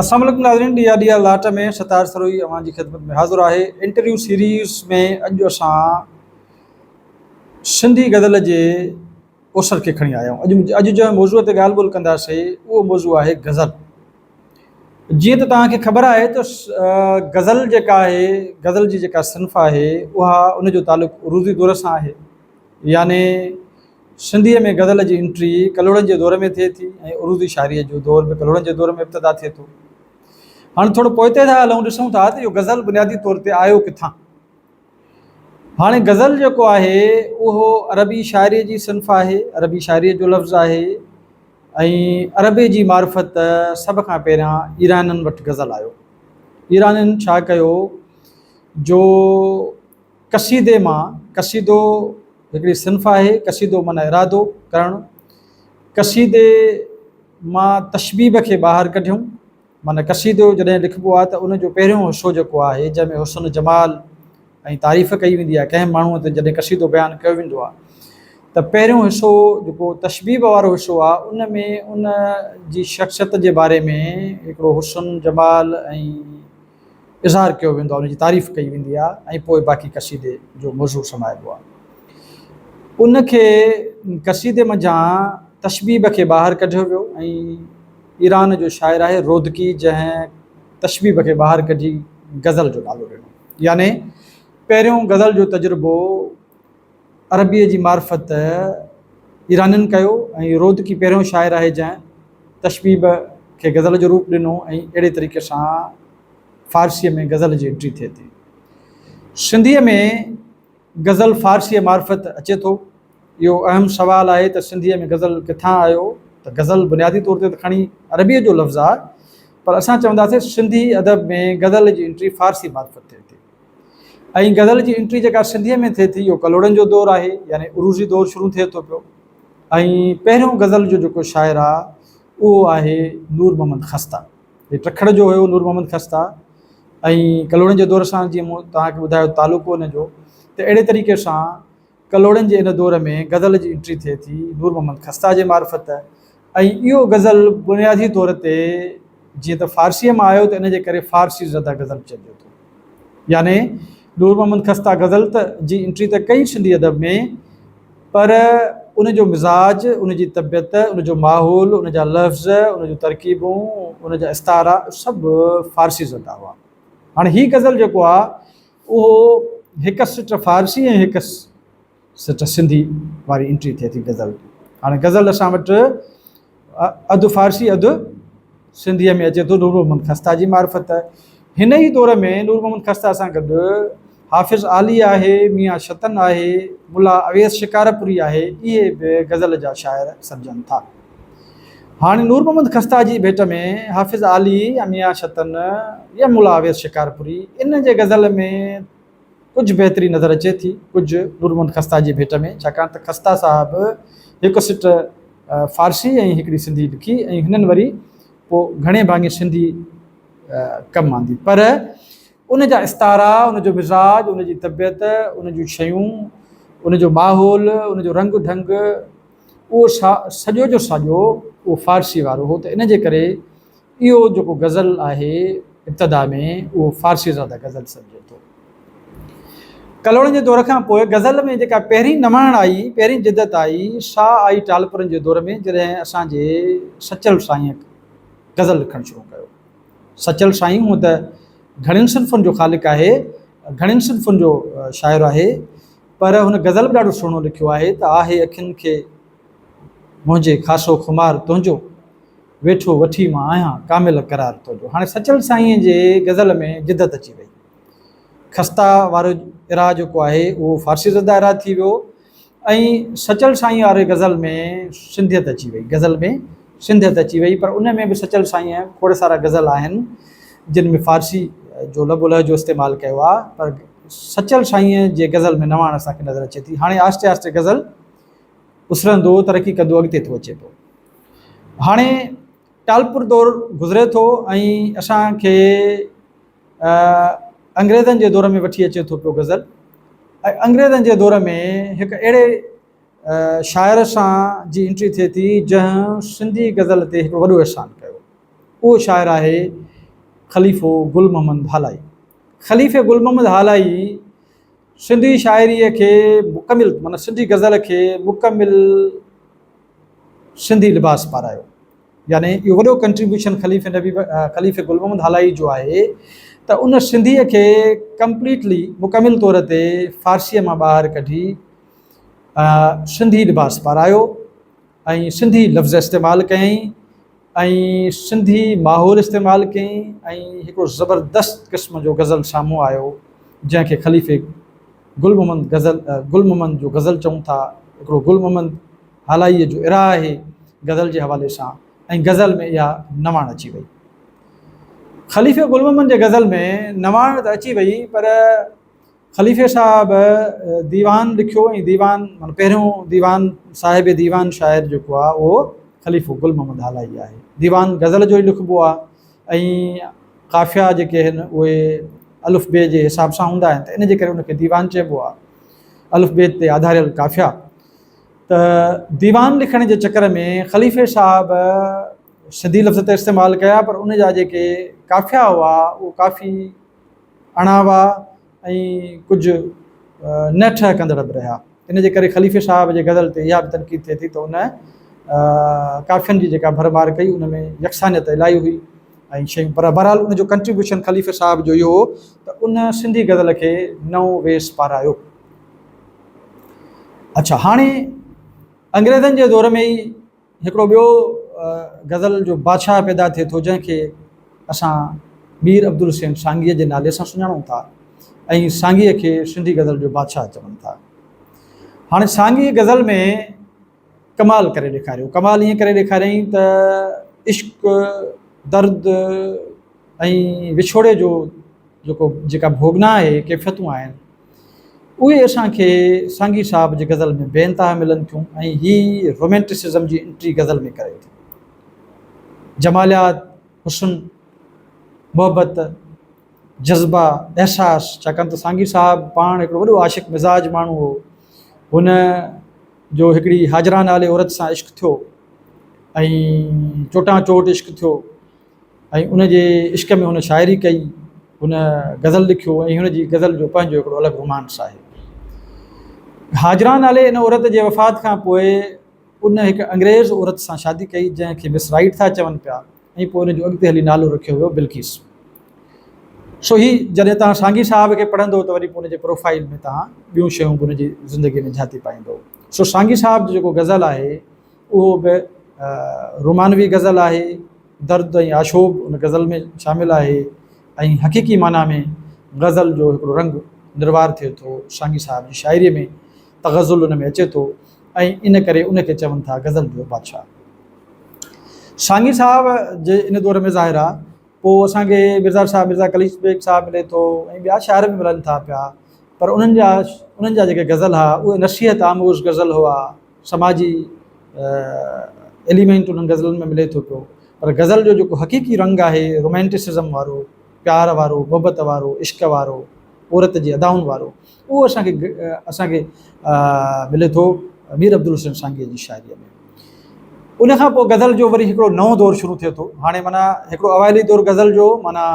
السلام عليڪم ناظرين ڏيئا ڏيئا لاٽ ۾ ستار سروهي اوهان جي خدمت ۾ حاضر آهي انٽرويو سيريز ۾ اڄ اسان سنڌي غزل جي اوسر کي کڻي آيا آهيون اڄ اڄ جنهن موضوع تي ڳالهه ٻولهه ڪنداسي اهو موضوع آهي غزل جيئن ته توهان کي خبر آهي ته غزل جيڪا آهي غزل جي جيڪا صنف آهي اها ان جو تعلق عروضي دور سان آهي يعني سنڌيء ۾ غزل جي انٽري ڪلهوڙن جي دور ۾ ٿئي ٿي ۽ عروضي شاعريء جو دور به ڪلهوڙن جي دور ۾ ابتدا ٿئي ٿو. هاڻ ٿورو پوئتي ٿا هلون، ڏسون ٿا ته اهو غزل بنيادي طور تي آيو ڪٿان؟ هاڻي غزل جيڪو آهي اهو عربي شاعريء جي صنف آهي، عربي شاعريء جو لفظ آهي ۽ عربيء جي معرفت سڀ کان پهريان ايرانين وٽ غزل آيو. ايرانين ڇا ڪيو جو قصيدي مان قصيدو هڪڙي صنف آهي، قصيدو معنيٰ ارادو ڪرڻ، قصيدي مان تشبيب کي ٻاهر ڪڍيون، معنيٰ قصيدو جڏهن لکبو آهي ته ان جو پهريون حصو جيڪو آهي جنهن ۾ حسن جمال ۽ تعريف ڪئي ويندي آهي، ڪنهن ماڻهوء تي جڏهن قصيدو بيان ڪيو ويندو آهي ته پهريون حصو جيڪو تشبيب وارو حصو آهي ان ۾ ان جي شخصيت جي باري ۾ هڪڙو حسن جمال ۽ اظهار ڪيو ويندو آهي، ان جي تعريف ڪئي ويندي آهي ۽ پوء باقي قصيدي جو مضور سمائبو آهي. ان کي قصيدي منجهان تشبيب کي ٻاهر ڪڍيو ويو ۽ ايران جو شاعر آهي رودڪي جنهن تشبيب کي ٻاهر ڪڍي غزل جو نالو ڏنو يعني پهريون غزل جو تجربو عربيء جي معرفت ايرانين ڪيو ۽ رودڪي پهريون شاعر آهي جنهن تشبيب کي غزل جو روپ ڏنو ۽ اهڙي طريقي سان فارسيء ۾ غزل جي انٽري ٿئي ٿي. سنڌيء ۾ غزل فارسيء معرفت اچي ٿو؟ اهو اهم سوال آهي ته سنڌيء ۾ غزل ڪٿان آيو ته غزل بنيادي طور تي ته کڻي عربيء جو لفظ آهي پر اسان چونداسين سنڌي ادب ۾ غزل جي انٽري فارسيء معرفت ٿئي ٿي. ۽ غزل جي انٽري جيڪا سنڌيء ۾ ٿئي ٿي اهو ڪلهوڙن جو دور آهي يعني عروضي دور شروع ٿئي ٿو پيو ۽ پهريون غزل جو جيڪو شاعر آهي اهو آهي نور محمد خسته هي ٽکڙ جو هيو نور محمد خسته ۽ ڪلهوڙن جي دور سان جيئن مون توهان کي ٻڌايو تعلقو ان جو ته اهڙي طريقي سان ڪلهوڙن جي ان دور ۾ غزل جي انٽري ٿئي ٿي نور محمد خسته جي معرفت ۽ اهو غزل بنيادي طور تي جيئن ته فارسيء مان آيو ته ان جي ڪري فارسي زده غزل چئجي ٿو. يعني نور محمد خسته غزل ته جي انٽري ته ڪئي سنڌي ادب ۾ پر ان جو مزاج، ان جي طبيعت، ان جو ماحول، ان جا لفظ، ان جون ترڪيبون، ان جا استعارا سڀ فارسي زده هئا. هاڻي هي غزل جيڪو آ. اهو هڪ سٽ فارسي ۽ هڪ سٽ سنڌي واري انٽري ٿئي ٿي غزل جي. هاڻي غزل اسان وٽ اڌ فارسي اڌ سنڌيء ۾ اچي ٿو نور محمد خسته جي معرفت. هن ئي دور ۾ نور محمد خسته سان گڏ حافظ عالي آهي، ميان شطن آهي، ملا اويس شڪارپوري آهي، اهي به غزل جا شاعر سڏجن ٿا. هاڻي نور محمد خسته جي ڀيٽ ۾ حافظ عالي يا ميان شطن يا ملا اويس شڪارپوري انهن جي غزل ۾ ڪجهه بهتري نظر اچي ٿي ڪجهه نور محمد خسته جي ڀيٽ ۾ ڇاڪاڻ ته خسته صاحب هڪ سٽ فارسي ۽ هڪڙي سنڌي لکي ۽ هنن وري پوء گهڻي ڀاڱي سنڌي ڪم آندي پر ان جا استعارا ان جو مزاج ان جي طبيعت ان جون شيون ان جو ماحول ان جو رنگ ڍنگ اهو شاهه سڄو جو ساڄو اهو فارسي وارو هو ته ان جي ڪري اهو جيڪو غزل آهي ابتدا ۾ اهو فارسي زاده غزل سڏجي ٿو. ڪلهوڙن جي دور کان پوء غزل ۾ جيڪا پهرين نواڻ آئي، پهرين جدت آئي، سا آئي ٽالپرن جي دور ۾ جڏهن اسان جي سچل سائينء غزل لکڻ شروع ڪيو. سچل سائين هونء ته گهڻين صنفن جو خالق آهي، گهڻين صنفن جو شاعر آهي، پر هن غزل به ڏاڍو سهڻو لکيو آهي ته آهي اکين کي منهنجي خاصو خمار تنهنجو ويٺو وٺي مان آهيان ڪامل قرار تنهنجو هاڻي سچل سائين جي غزل ۾ جدت اچي وئي خستا وارو اراء جيڪو آهي اهو فارسي زده اراء ٿي ويو ۽ سچل سائين واري غزل ۾ سنڌيت اچي وئي غزل ۾ سنڌيت اچي وئي پر ان ۾ به سچل سائين کوڙ سارا غزل آهن جن ۾ فارسي جو لب الهه جو استعمال ڪيو آهي پر سچل سائينء جي غزل ۾ نواڻ اسان کي نظر اچي ٿي. هاڻي آهستي آهستي غزل اسرندو ترقي ڪندو اڳتي ٿو اچي پيو. هاڻي ٽالپر دور گذري ٿو ۽ اسان کي انگريزن جي دور ۾ وٺي اچي ٿو پيو غزل ۽ انگريزن جي دور ۾ هڪ اهڙي شاعر سان جي انٽري ٿئي ٿي جنهن سنڌي غزل تي هڪ وڏو احسان ڪيو اهو شاعر آهي خليفو گل محمد هالائي. خليفي گل محمد هالائي سنڌي شاعريء کي مڪمل معنيٰ سنڌي غزل کي مڪمل سنڌي لباس پارايو يعني اهو وڏو ڪنٽريبيوشن خليفي نبي خليفي گل محمد هالائي جو آهي ته ان سنڌيء کي ڪمپليٽلي مڪمل طور تي فارسيء مان ٻاهر ڪڍي سنڌي لباس پارايو ۽ سنڌي لفظ استعمال ڪيائين ۽ سنڌي ماحول استعمال ڪيائين ۽ هڪڙو زبردست قسم جو غزل سامهون آيو جنهن کي خليفي گل محمد غزل گل محمد جو غزل چئون ٿا هڪڙو گل محمد هالائيء جو اراء آهي غزل جي حوالي سان ۽ غزل ۾ اها نواڻ اچي وئي خليفي گل محمد جي غزل ۾ نواڻ ته اچي وئي پر خليفي صاحب ديوان لکيو ۽ ديوان معنيٰ پهريون ديوان صاحب ديوان شاعر جيڪو آهي اهو خليفو گل محمد هالائي آهي. ديوان غزل جو ئي لکبو آهي ۽ قافيا جيڪي آهن اهي الف بي جي حساب سان هوندا آهن ته ان جي ڪري ان کي ديوان چئبو آهي. الف بي تي آڌاريل قافيا. ته ديوان لکڻ جي چڪر ۾ خليفي صاحب سنڌي لفظ ته استعمال ڪيا پر ان جا جيڪي قافيا هئا اهو ڪافي اڻاوا ۽ ڪجهه نه ٺهه ڪندڙ به رهيا. ان جي ڪري خليفي صاحب جي غزل تي اها به تنقيد ٿئي ٿي ته ان ڪافين جي جيڪا ڀرمار ڪئي ان ۾ يڪسانيت الائي هئي ۽ شيون پر بهرحال ان جو ڪنٽريبيوشن خليفي صاحب جو اهو هو ته ان سنڌي غزل کي نئون ويس پارايو. اڇا هاڻي انگريزن جي دور ۾ ئي هڪڙو ٻيو غزل جو بادشاهه پيدا ٿئي ٿو جنهن کي اسان مير عبدالحسين سانگيء جي نالي سان سڃاڻون ٿا ۽ سانگيء کي سنڌي غزل جو بادشاهه چون ٿا. هاڻي سانگيء غزل ۾ ڪمال ڪري ڏيکاريو. ڪمال ائين ڪري ڏيکاريائين ته عشق، درد ۽ وڇوڙي جو جيڪو جيڪا ڀوڳنا آهي، ڪيفيتون آهن، اهي اسان کي سانگي صاحب جي غزل ۾ بي انتها ملن ٿيون ۽ هي رومينٽسزم جي انٽري غزل ۾ ڪري ٿو. جماليات، حسن، محبت، جذبا، احساس، ڇاڪاڻ ته سانگي صاحب پاڻ هڪڙو وڏو عاشق مزاج ماڻهو هو. هن جو هڪڙي هاجرا نالي عورت سان عشق ٿيو ۽ چوٽان چوٽ عشق ٿيو. ۽ ان جي عشق ۾ هن شاعري ڪئي، هن غزل لکيو ۽ هن جي غزل جو پنهنجو هڪڙو الڳ رومانس آهي. هاجران نالي ان عورت جي وفات کان پوء ان هڪ انگريز عورت سان شادي ڪئي جنهن کي مس رائيٽ ٿا چون پيا ۽ پوء ان جو اڳتي هلي نالو رکيو ويو بلقيس. سو هي جڏهن توهان سانگي صاحب کي پڙهندو ته وري پوء ان جي پروفائيل ۾ توهان ٻيون شيون به ان جي زندگي ۾ جهاتي پائيندو. سو سانگي صاحب جو جيڪو غزل آهي. اهو به رومانوي غزل آهي. درد ۽ آشوب ان غزل ۾ شامل آهي ۽ حقيقي معنيٰ ۾ غزل جو هڪڙو رنگ نروار ٿئي ٿو. شاهنگي صاحب جي شاعريء ۾ تغزل ان ۾ اچي ٿو ۽ ان ڪري ان کي چون ٿا غزل جو بادشاهه. شاهنگي صاحب جي ان دور ۾ ظاهر آهي پوء اسان کي ميرزا صاحب، ميرزا قليچ بيگ صاحب ملي ٿو ۽ ٻيا شاعر به ملن ٿا پيا پر انهن جا انهن جا جيڪي غزل ها اهي نصيحت آموز غزل هئا. سماجي ايليمينٽ انهن غزلن ۾ ملي ٿو پيو پر غزل جو جيڪو حقيقي رنگ آهي رومينٽسزم وارو، پيار وارو، محبت وارو، عشق وارو، عورت جي ادائن وارو اهو اسان کي اسان کي ملي ٿو مير عبدالحسين سانگيء جي شاعريء ۾. ان کان پوء غزل جو وري هڪڙو نئون دور شروع ٿئي ٿو. هاڻي معنيٰ هڪڙو اوائلي دور غزل جو معنيٰ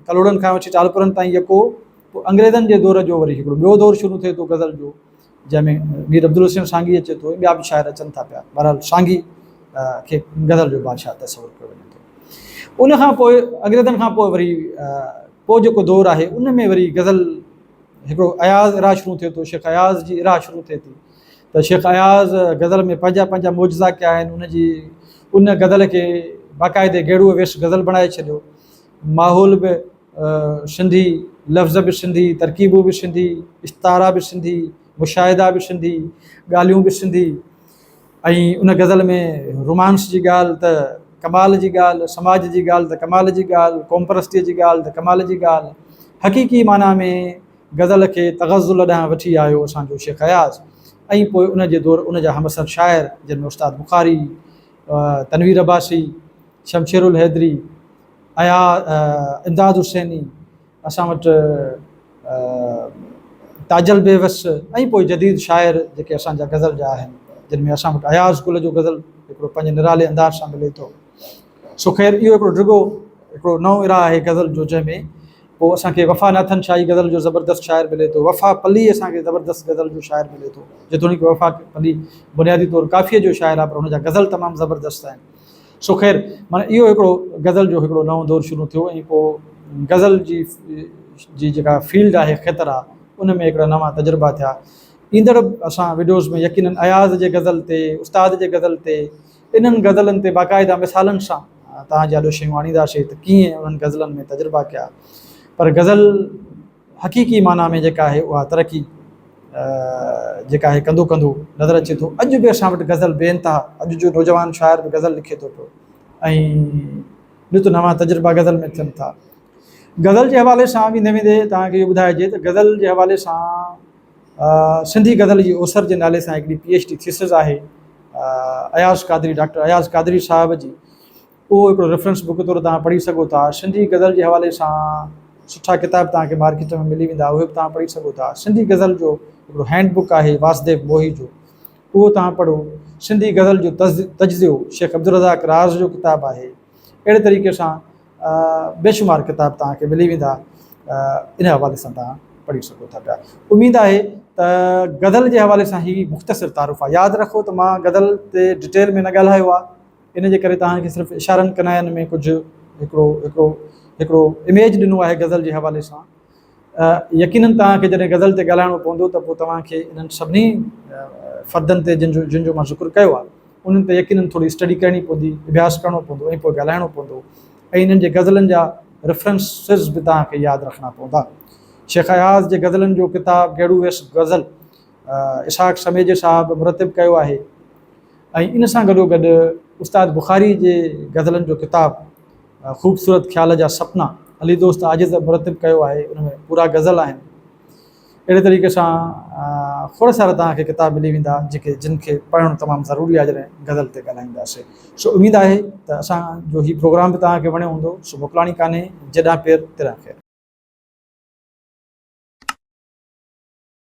ڪلهوڙن کان وٺي ٽالپرن تائين يڪو انگريزن جي دور جو وري هڪڙو ٻيو دور شروع ٿئي ٿو غزل جو. جنهن ۾ مير عبدالحسين سانگي اچي ٿو ۽ ٻيا به شاعر اچن ٿا پيا. بهرحال سانگي کي غزل جو بادشاهه تصور ڪيو وڃي ٿو. ان کان پوء انگريزن کان پوء وري پوء جيڪو دور آهي ان ۾ وري غزل هڪڙو اياز اراء شروع ٿئي ٿو، شيخ اياز جي اراء شروع ٿئي ٿي ته شيخ اياز غزل ۾ پنهنجا پنهنجا معجزا ڪيا آهن ان جي ان غزل کي باقاعدي گهيڙوء ويس غزل بڻائي ڇڏيو. ماحول به سنڌي، لفظ به سنڌي، ترڪيبون به سنڌي، استعارا به سنڌي، مشاهدا به سنڌي، ڳالهيون به سنڌي ۽ ان غزل ۾ رومانس جي ڳالهه ته ڪمال جي ڳالهه، سماج جي ڳالهه ته ڪمال جي ڳالهه، قومپرستيء جي ڳالهه ته ڪمال جي ڳالهه. حقيقي معنيٰ ۾ غزل کي تغزل ڏانهن وٺي آيو اسان جو شيخ اياز ۽ پوء ان جي دور ان جا همعصر شاعر جن ۾ استاد بخاري، تنوير عباسي، شمشير الحيدري، ايا امداد حسيني، اسان وٽ تاجل بيوس ۽ پوء جديد شاعر جيڪي اسان جا غزل جا آهن، جن ۾ اسان وٽ اياز قل جو غزل هڪڙو پنهنجي نرالي انداز سان ملي ٿو. سو خير اهو هڪڙو ڊگهو هڪڙو نئون اراء آهي غزل جو جنهن ۾ پوء اسان کي وفا ناٿن شاهي غزل جو زبردست شاعر ملي ٿو، وفا پلي اسان کي زبردست غزل جو شاعر ملي ٿو، جيتوڻيڪ وفا پلي بنيادي طور ڪافيء جو شاعر آهي پر هن جا غزل تمام زبردست آهن. سو خير معنيٰ اهو هڪڙو غزل جو هڪڙو نئون دور شروع ٿيو ۽ پوء غزل جي جي جيڪا فيلڊ آهي خطر آ ان ۾ هڪڙا نوان تجربا ٿيا ايندڙ اسان وڊيوز ۾ يقينن اياز جي غزل تي استاد جي غزل تي انهن غزلن تي باقاعده مثالن سان توهان جي آڏو شيون آڻينداسي ته ڪيئن انهن غزلن ۾ تجربا ڪيا پر غزل حقيقي معنيٰ ۾ جيڪا آهي اها ترقي جيڪا آهي ڪندو ڪندو نظر اچي ٿو. اڄ به اسان وٽ غزل بي انتها اڄ جو نوجوان شاعر به غزل لکي ٿو پيو ۽ نت نوان تجربا غزل ۾ ٿين ٿا. غزل جي حوالي سان ويندي ويندي توهان کي اهو ٻڌائجي ته غزل جي حوالي سان سنڌي غزل جي اوسر جي نالي سان هڪڙي پي ايڇ ڊي ٿيسز آهي اياز قادري ڊاڪٽر اياز قادري صاحب جي اهو هڪڙو ريفرنس بڪ طور توهان پڙهي سگهو ٿا. سنڌي غزل جي حوالي سان سٺا ڪتاب توهان کي مارڪيٽ ۾ ملي ويندا اهي به توهان پڙهي سگهو ٿا. سنڌي غزل جو هڪڙو هينڊ بڪ آهي واسديو موهي جو اهو توهان پڙهو. سنڌي غزل جو تجزيو شيخ عبدالرزاق راز جو ڪتاب آهي. اهڙي طريقي سان بيشمار ڪتاب توهان کي ملي ويندا ان حوالي سان توهان پڙهي سگهو ٿا پيا. اميد آهي ته غزل جي حوالي سان هي مختصر تعارف آهي. ياد رکو ته مان غزل تي ڊٽيل ۾ نه ڳالهايو آهي. ان جي ڪري توهان کي صرف اشارن ڪناين ۾ ڪجهه هڪڙو هڪڙو هڪڙو اميج ڏنو آهي غزل جي حوالي سان. يقينن توهان کي جڏهن غزل تي ڳالهائڻو پوندو ته پوء توهان کي انهن سڀني فردن تي جن جو جن جو مان ذڪر ڪيو آهي انهن تي يقينن ٿوري اسٽڊي ڪرڻي پوندي، اڀياس ڪرڻو پوندو ۽ پوء ڳالهائڻو پوندو ۽ انهن جي غزلن جا ريفرنسز به توهان کي ياد رکڻا پوندا. شيخ اياز جي غزلن جو ڪتاب گيڙو ويس غزل، اسحاق سميجي صاحب مرتب ڪيو آهي ۽ ان سان گڏوگڏ استاد بخاري جي غزلن جو ڪتاب خوبصورت خيال جا سپنا علي دوست عاجز مرتب ڪيو آهي ان ۾ پورا غزل آهن اهڙي طريقي سان کور سارا توهان کي ڪتاب ملي ويندا جيڪي جن کي پڙهڻ تمام ضروري آهي جڏهن غزل تي ڳالهائينداسي سو اميد آهي ته اسان جو هي پروگرام به توهان کي وڻيو هوندو سو موڪلاڻي ڪانهي جڏهن پير تڏهن خير